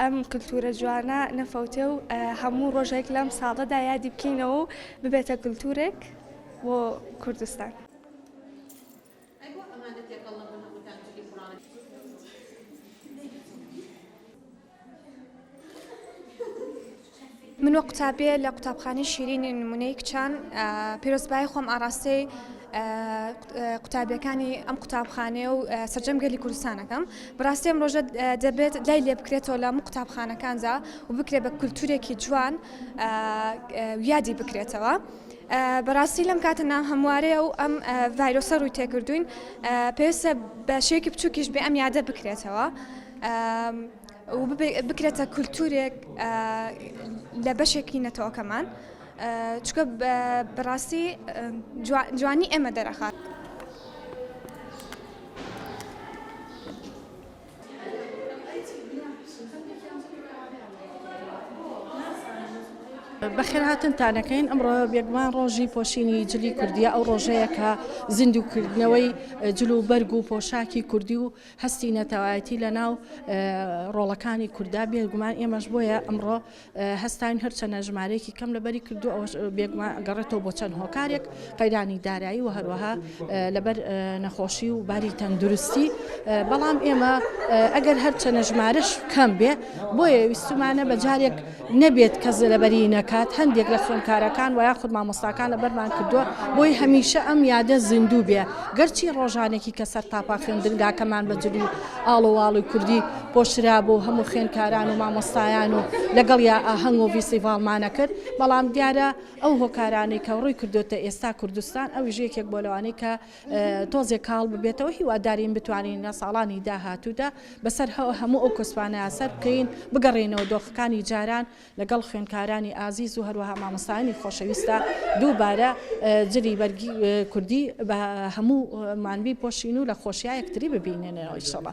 ئەم کلتورە جوانە نەفەوتێ و هەموو ڕۆژێک لەم ساڵەدا یادی بکەینەوە و ببێتە کلتورێک بۆ کوردستان. من وەک قوتابیێ لە قوتابخانەی شیرینی نمونەی کچان پیرۆزبای خۆم ئاراستەی قوتابیەکانی ئەم قوتابخانەیە و سەررجەم گەلی کوردستانەکەم بڕاستی ئەم ڕۆژە دەبێت لای لێ بکرێتەوە لە قوتابخانەکاندا و بکرێ بە کولتورێکی جوان یادی بکرێتەوە. بەڕاستی لەم کاتە نام هەموارەیە و ئەم ڤایرۆسە ڕووی تێکردوین پێویستە بە شێوکی بچووکیش بێ ئەم یادە بکرێتەوە. و بکرێتە کولتوورێک لە بەشێکی نەتەوەکەمان چکە بەڕاستی جوانی ئێمە دەرەخات. بەخێرهاتنتانەکەین ئەمڕۆ بێگومان ڕۆژی پۆشینی جلی کوردیە ئەو ڕۆژەیە کە زیندووکردنەوەی جل و بەرگ و پۆشاکی کوردی و هەستی نەتەوایەتی لەناو ڕۆڵەکانی کوردا بێگومان ئێمەش بۆیە ئەمڕۆ هەستاین هەرچەنە ژمارەیەکی کەم لەبەری کردو ئەوش بێگومان گەڕێتەوە بۆ چەند هۆکارێک قەیرانی دارایی و هەروەها لەبەر نەخۆشی و باری تەندروستی بەڵام ئێمە ئەگەر هەرچەنە ژمارەش کەم بێ بۆیە ویستمانە بە جارێک نەبێت کەس لەبەری نەکات هەندێک لە خوێندکارەکان وە یاخود مامۆستاکان لەبەرمان کردووە بۆی هەمیشە ئەم یادە زیندوو بێ گەرچی ڕۆژانێکی کە سەر تاپا خوێندنگاکەمان بە جلی ئاڵ و واڵی کوردی پۆشرابوو و هەموو خوێندکاران و مامۆستایان و لەگەڵ یا ئاهەنگ و ڤیستیڤاڵمانە کرد بەڵام دیارە ئەو هۆکارانەی کە ڕووی کردۆتە ئێستا کوردستان ئەویش یەکێک بۆ لەوانەی کە تۆزێک کاڵ ببێتەوە هیوادارین بتوانین لە ساڵانی داهاتوودا بەسەر هەموو ئەو کۆسپانە سەر بکەین بگەڕێینەوە دۆخەکانی جاران لەگەڵ خوێنکارانی ئازیز و هەروەها مامۆستایانی خۆشەویستا دووبارە جلی بەرگی کوردی بە هەموو مانبی پۆشین و لە خۆشیای یەکتری ببینێنەوە ئیشەڵا